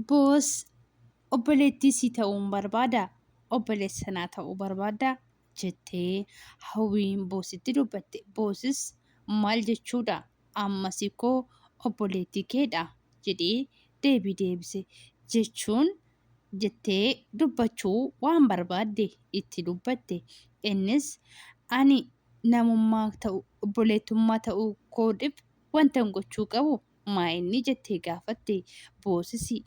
Boos obboleettii si ta'uun barbaada obboleessa naa ta'uu barbaadda jettee hawwiin boositti dubbatte boosis maal jechuudha ammas koo obboleettii keedha jedhee deebii deebise jechuun jettee dubbachuu waan barbaadde itti dubbatte innis ani namummaa ta'u obboleettummaa ta'uu koodhif wantan gochuu qabu Maa inni jettee gaafatte? Boosisi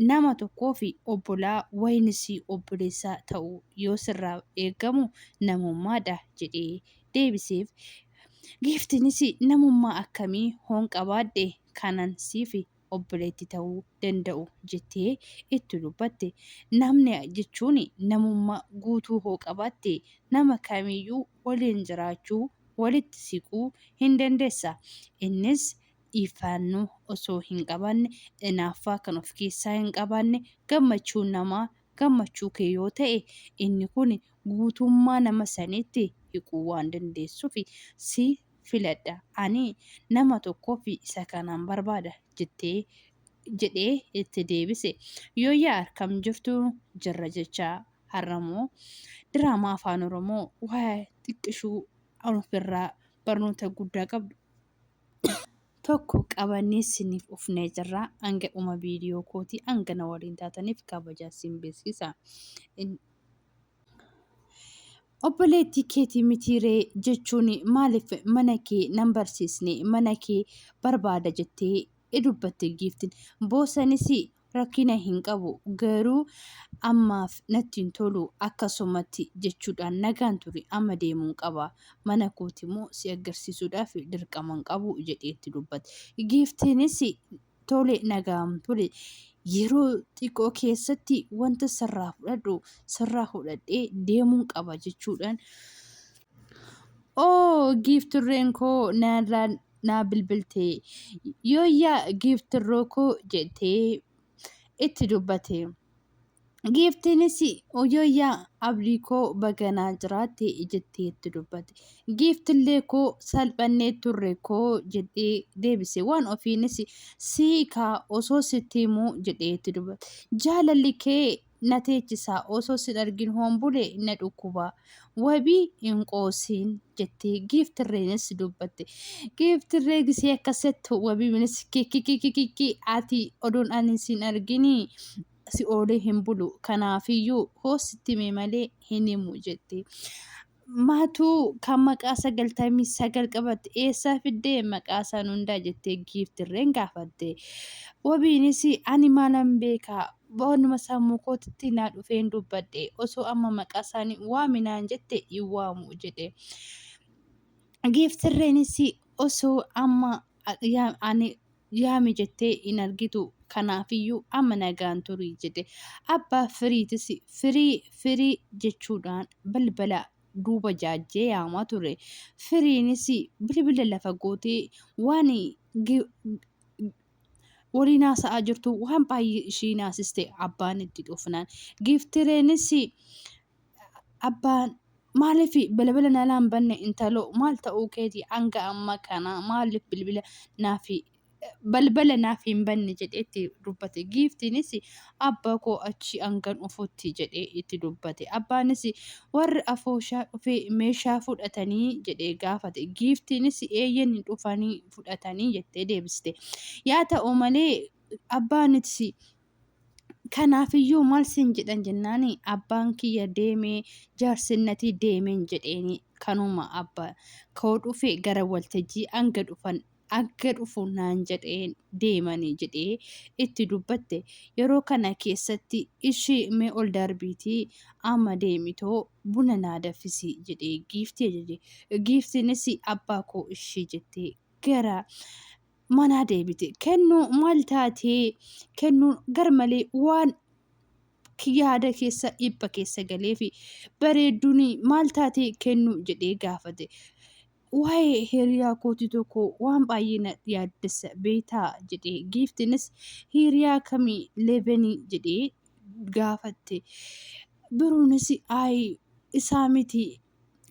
nama tokkoof obbolaa waynis obboleessa ta'uu yoo sirraa eegamu namummaadha jedhee deebiseef. Giiftiinis namummaa akkamii hoon qabaadhe kanan siif obboleetti ta'uu danda'u jettee itti dubbatte. Namni jechuun namummaa guutuu hoo qabaatte nama kamiiyyuu waliin jiraachuu, walitti siquu hin dandeessa. Innis dhiifaannoo osoo hin qabaanne, inaaffaa kan of keessaa hin qabaanne, gammachuun namaa gammachuu kee yoo ta'e, inni kun guutummaa nama saniitti hiquu waan dandeessuuf si filadha. Ani nama tokkoof isa kanaan barbaada jettee jedhee itti deebise. Yooyyaa harkam jirtu jirra jecha har'amoo diraamaa afaan oromoo waa'ee xiqqishuu ofirraa barnoota guddaa qabdu tokko qabannee isiniif ufnee jirra hanga dhuma viidiyoo kootii hanga na waliin taataniif kabajaan siin beeksisa. Obboleettii keetii mitiiree jechuun maaliif mana kee nan barsiisne mana kee barbaada jettee dubbatte giiftin boosanis rakkina hin qabu garuu ammaaf natti hin tolu akkasumatti jechuudhaan nagaan ture amma deemuun qaba mana kooti immoo si agarsiisuudhaaf dirqaman qabu jedhee itti dubbate giiftiinis tole nagaan tole yeroo xiqqoo keessatti wanta sirraa fudhadhu sirraa fudhadhee deemuun qaba jechuudhaan oo giifturreen koo naalaan naa bilbilte yooyyaa giiftirroo koo jettee itti dubbate. Giiftiinis yooyyaa abdii koo baganaa jiraatte jettee itti dubbate. Giiftillee koo salphannee turre koo jedhee deebise. Waan ofiinis siikaa osoo sitti himuu jedhee itti dubbate. Jaalalli kee na teechisa osoo sin argin hoon bule na dhukkuba wabii hin qoosiin jettee giiftirreenis dubbatte giiftirree gisee akka settu wabiinis kikikikikiki ati odoon ani sin argini si oolee hin bulu kanaafiyyuu hoo sitti mee malee hin himu jette Maatuu kan maqaa sagaltamii sagal qabatte eessaa fiddee maqaa san hundaa jettee giiftirreen gaafatte. Wabiinis ani maalan beekaa boonuma sammuu kootitti naa dhufeen dubbadhe osoo amma maqaa isaanii waaminaan jette hin waamu jedhe. Giiftirreenis osoo amma ani yaami jettee hin argitu kanaafiyyuu amma nagaan turii jedhe abbaa firiitis firii firii jechuudhaan balbala duuba jaajjee yaamaa ture firiinis bilbila lafa gootee waan waliin haasa'aa jirtu waan baay'ee ishii naasiste abbaan itti dhufnaan giiftireenis abbaan maaliif balbala nalaa hin banne intaloo maal ta'uu keeti hanga amma kana maaliif bilbila naaf balbala naaf hin banne jedhee itti dubbate giiftiinis abbaa koo achi hangan dhufutti jedhee itti dubbate abbaanis warri afooshaa dhufee meeshaa fudhatanii jedhee gaafate giiftiinis eeyyen dhufanii fudhatanii jettee deebiste yaa ta'u malee abbaanis Kanaafiyyuu maal siin jedhan jennaan abbaan kiyya deemee jaarsinnatii deemeen jedheeni kanuma abba koo dhufe gara waltajjii hanga dhufan akka dhufu naan jedheen deemanii jedhee itti dubbatte yeroo kana keessatti ishii mee ol darbiitii amma deemitoo buna naa daffisii jedhee giiftii ajaje giiftiinis abbaa koo ishii jettee gara manaa deebite kennuu maal taatee kennuun garmalee waan yaada keessa dhipha keessa galee fi bareedduun maal taatee kennuu jedhee gaafate. Waa'ee hiriyaa kootii tokko waan baay'ee na yaaddessa beektaa jedhee giiftinis hiriyaa kamii leevenii jedhee gaafatte. Biruunis ayi isaa miti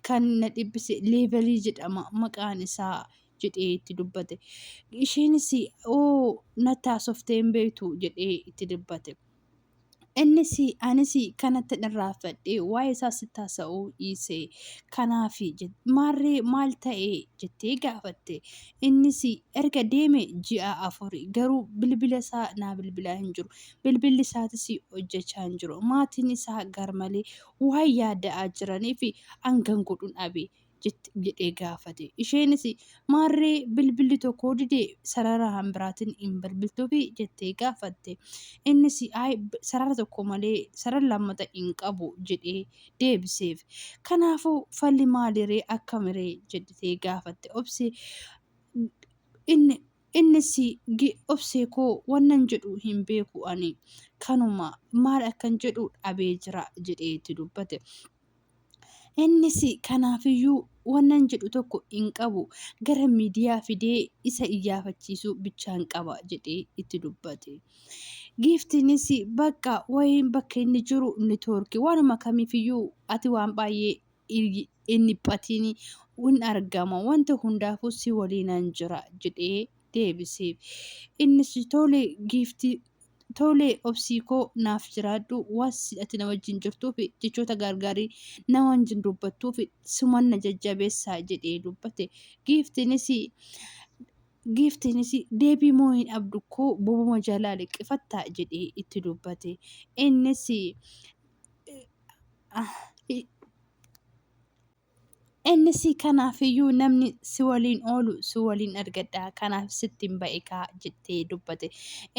kan na dhibbise leevelii jedhama maqaan isaa jedhee itti dubbate. Isheenis oo natti haasoftee hin beektu jedhee itti dubbate. Innis anis kanatti irraanfadhee waa'ee isaa sitti haasa'uu dhiise. Kanaaf maarree maal ta'e jettee gaafatte. Innis erga deeme ji'a afur garuu bilbila isaa naa bilbilaa hin jiru. Bilbilli isaatis hojjechaa hin jiru. Maatiin isaa garmalee waan yaada'aa jiraniif hangan godhuun dhabe. jedhee gaafate. Isheenis maarree bilbilli tokko dide sarara biraatiin hin bilbiltuufi jettee gaafatte. Innis ayi sarara tokko malee sarara lammata hin qabu jedhee deebiseef. Kanaafuu falli maaliree akkamiree jettee gaafatte obse. Inni innis obsee koo wannan jedhu hin beeku ani kanuma maal akkan jedhu dhabee jira jedhee itti dubbate. Innis kanaafiyyuu wannan jedhu tokko hin qabu gara miidiyaa fidee isa iyyaafachiisuu bichaan qaba jedhee itti dubbate. Giiftiinis bakka wayiin bakka inni jiru nitoorki waanuma kamiifiyyuu ati waan baay'ee hin dhiphatiin hin argama wanta hundaafuu si waliinan jira jedhee deebiseef. Innis tole giiftii Tole obsii koo naaf jiraadhu waan ati na wajjin jirtuuf jechoota gaargaarii na wajjin dubbattuuf suman na jajjabeessaa jedhee dubbate. Giiftiinis giiftiinis deebii moo hin abdu koo bobuma jalaa liqqifattaa jedhee itti dubbate. Innis Innis kanaafiyyuu namni si waliin oolu si waliin argadha kanaaf sittiin ba'ikaa jettee dubbate.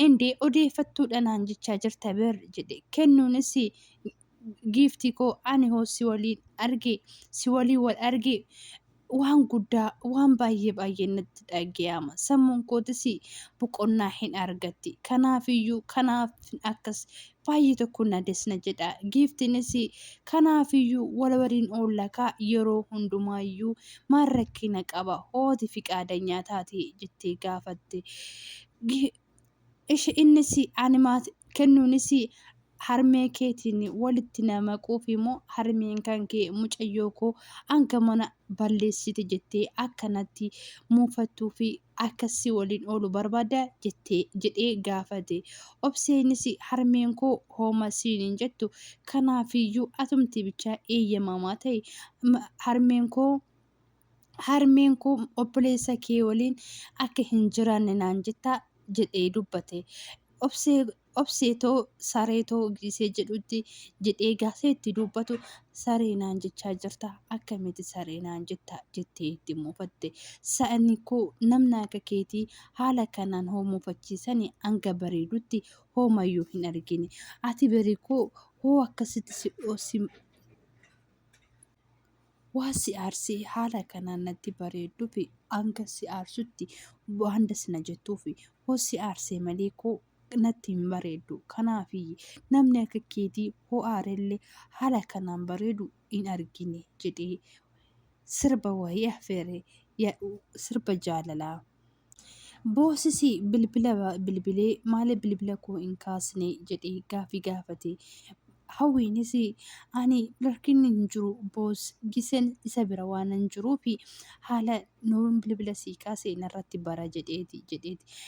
Indee odeeffattuudha naan jechaa jirta ber jedhe kennuunis giiftii koo ani hoo si waliin arge si waliin wal arge waan guddaa waan baay'ee baay'ee natti dhaga'ama sammuun kootis boqonnaa hin argatti kanaafiyyuu kanaaf akkas baay'ee tokko na des na jedha giiftinis kanaafiyyuu wal waliin oollakaa yeroo hundumaayyuu maal rakkina qaba hooti fiqaadanyaa taate jettee gaafatte Gi- ishi innis ani maati kennuunis harmee keetiin walitti na maquuf immoo harmeen kan kee mucayyoo koo hanga mana balleessite jettee akkanatti muufattuu fi akka si waliin oolu barbaadda jettee jedhee gaafate. Obseenis harmeen koo hooma siin hin jettu kanaafiyyuu atumti bichaa eeyyamamaa ta'i harmeen koo harmeen koo obboleessa kee waliin akka hin jiraanne naan jettaa jedhee dubbate. Obsee obsee too saree too giisee jedhutti jedhee gaafee itti dubbatu saree naan jechaa jirta akkamitti saree naan jetta jettee itti muufatte sa'ani koo namna akka keetii haala kanaan hoo muufachiisani hanga bareedutti hoomayyuu hin argine ati bari koo hoo akkasitti si Waan si aarsee haala kanaan natti bareedduufi hanga si aarsutti waan das na jettuufi hoo si aarsee malee koo natti hin bareeddu kanaafiyyi namni akka keetii hoo aarellee haala kanaan bareedu hin argine jedhee sirba wayii afeere sirba jaalalaa. Boosisi bilbila bilbilee maaliif bilbila koo hin kaasne jedhee gaaffii gaafate. Hawwiinis ani rakkinni hin jiru boos gisen isa bira waan hin jiruuf haala nuun bilbila sii kaase narratti bara jedheeti jedheeti.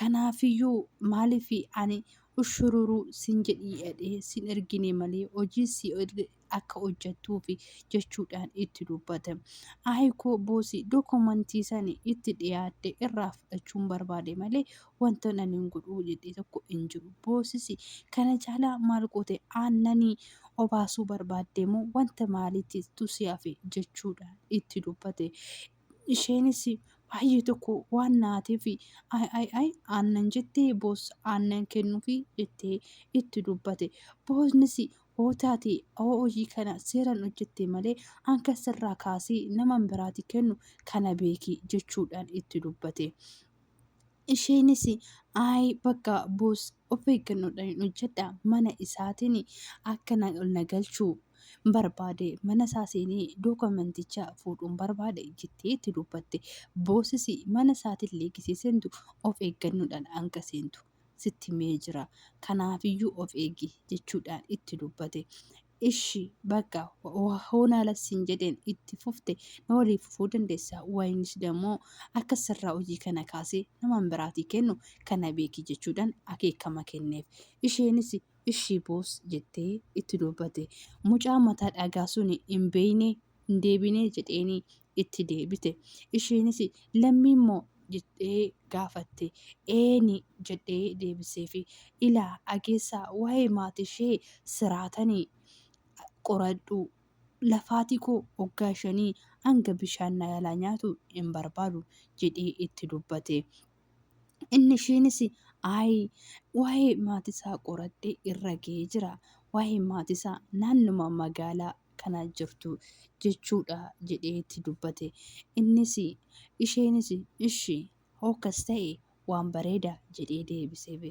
Kanaafiyyuu maaliif ani ushururuu sin jedhii jedhee sin ergine malee hojii si akka hojjattuufi jechuudhaan itti dubbate. Aayikoo boosii dokumentii sani itti dhiyaatte irraa fudhachuun barbaade malee wanta nan hin godhuu jedhee tokko hin jiru. Boosisi kana caalaa maal goote aannanii obaasuu barbaaddee moo wanta maaliitti tusi hafe jechuudhaan itti dubbate. Isheenis baay'ee tokko waan naateef ay ay ay aannan jettee boos aannan kennuufi jettee itti dubbate. Boosnis oo taate oo hojii kana seeran hojjette malee anka sirraa kaasee naman biraati kennu kana beeki jechuudhaan itti dubbate. Isheenis ayi bakka boos of eeggannoodhaan hojjedha mana isaatiin akka na ol na galchuu barbaade mana isaa seenee dookumanticha fuudhuun barbaade jettee itti dubbatte. Boosis mana isaatillee gisee seentu of eeggannoodhaan hanga seentu. sitti himee jira. Kanaafiyyuu of eegi jechuudhaan itti dubbate. Ishi bakka hoon haala siin jedheen itti fufte na walii fufuu dandeessa. Wayinis dammoo akka sirraa hojii kana kaasee naman biraatii kennu kana beeki jechuudhaan akeekama kenneef. Isheenis ishii boos jettee itti dubbate. Mucaa mataa dhagaa suni hin beekne hin deebinee jedheeni itti deebite. Isheenis lammii moo jettee gaafatte. Eeni jedhee deebiseefi. Ilaa ageessaa waa'ee maatii ishee siraatani qoradhu. Lafaatii koo waggaa shanii hanga bishaan na jalaa nyaatu hin barbaadu jedhee itti dubbate. Inni ishiinis ayi waa'ee maatisaa qoradhee irra ga'ee jira. Waa'ee maatisaa naannuma magaalaa kana jirtu jechuudha jedhee itti dubbate. Innis isheenis ishi hookas ta'e waan bareeda jedhee deebiseef.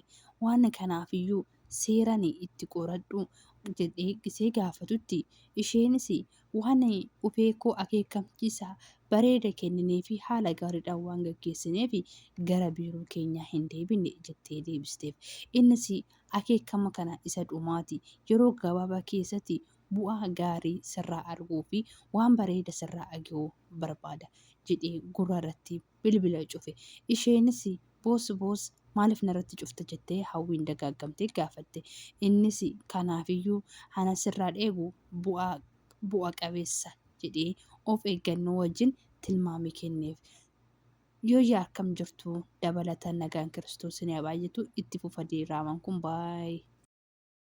Waan kanaafiyyuu seeran itti qoradhu jedhee gisee gaafatutti isheenis waan qubee koo akeekkamchiisa bareeda kenninee fi haala gaariidhaan waan gaggeessineef gara biiroo keenyaa hin deebine jettee deebisteef. Innis akeekkama kana isa dhumaati yeroo gabaabaa keessatti bu'aa gaarii sirraa arguu fi waan bareeda sirraa agahuu barbaada jedhee gurra irratti bilbila cufe. Isheenis boos boos maaliif narratti cufta jettee Hawwiin dagaaggamtee gaafatte. Innis kanaafiyyuu ana sirraa dheebu bu'aa bu'a qabeessa jedhee of eeggannoo wajjin tilmaame kenneef. Yooyyaa akkam jirtu dabalataan nagaan kiristoos isin haa baay'atu itti fufa diraamaan kun baay'ee.